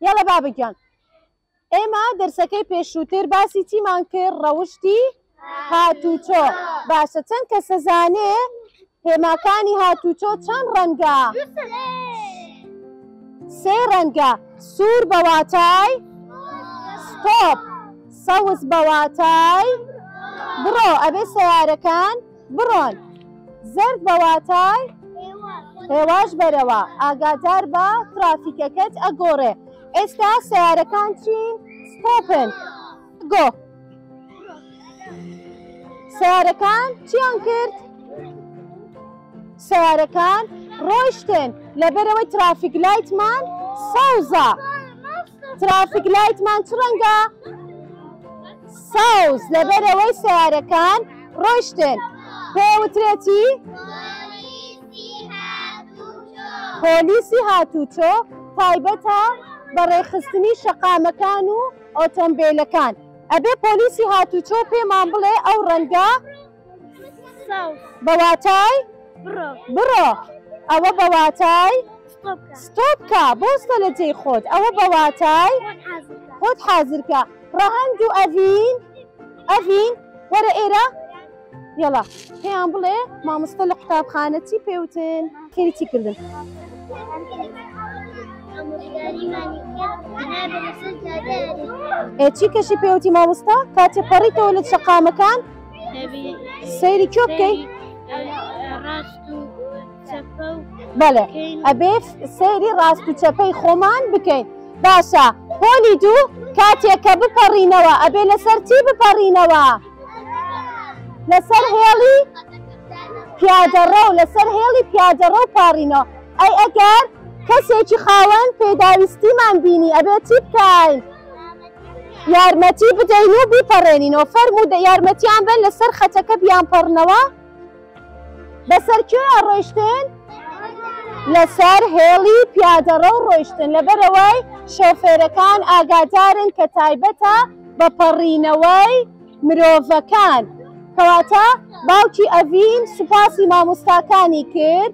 یەڵە بابە گیان ئێمە دەرسەکەی پێشووتر باسی چیمان کرد ڕەوشتی هاتوچۆ باشە چەند کە سەزانێ هێماکانی هاتوچۆ چەند ڕەنگە سێ ڕەنگە سوور بەواتای ستۆپ سەوز بەواتای بڕۆ ئەبێ سیارەکان بڕۆن زەرد بە واتای هێواش بەرەوە ئاگادار بە ترافیکەکەت ئەگۆڕێ ئێستا سەیارەکان چین ستۆپن گۆ سارەکان چیان کرد سارەکان ڕۆشتن لەبەرەوەی ترافیک لایتمان سەوزە ترافیک لایتمان چ ڕەنگە ساوز لەبەرئەوەی سەیارەکان ڕۆیشتن پێوترێتی پۆلیسی هاتووچۆ تایبەتە بە ڕێکخستنی شەقامەکان و ئۆتۆمبێلەکان ئەبێ پۆلیسی هاتووچۆ پێمان بڵێ ئەو ڕەنگە بەواتای بڕۆ ئەوە بەواتای ستۆپکە بۆ ستە لە جێی خۆت ئەوە بەواتای خۆت حازرکە ڕەهند و ئەڤین ئەڤین وەرە ئێرە یڵە پێیان بڵێ مامۆستا لە قوتابخانە چی پێوتن خێری چی کردن ئێ چی کەشی پێوتی مامۆستا کاتێ پەڕیتەوە لە شەقامەکان سەیری کۆ بکەی بەڵێ ئەبێ سەیری ڕاست و چەپەی خۆمان بکەین باشە پۆلی دوو کاتێک کە بپەڕینەوە ئەبێ لەسەر چی بپەڕینەوە لەسەر هێڵی پیادەڕە و لەسەر هێڵی پیادەڕە و پاڕینەوە ئەی ئەگەر کەسێکی خاوەن پێداویستیمان بینی ئەبێ چی بکەین؟ یارمەتی بدەین و بیپەڕێنینەوە فەرموو یارمەتیان بەن لەسەر خەتەکە بیانپەڕنەوە بەسەر کوێ ڕۆیشتن لەسەر هێڵی پیادەڕە و ڕۆیشتن لەبەرەوەی شۆفێرەکان ئاگادارن کە تایبەتە بە پەڕینەوەی مرۆڤەکان کەواتە باوکی ئەڤین سوپاسی مامۆستاکانی کرد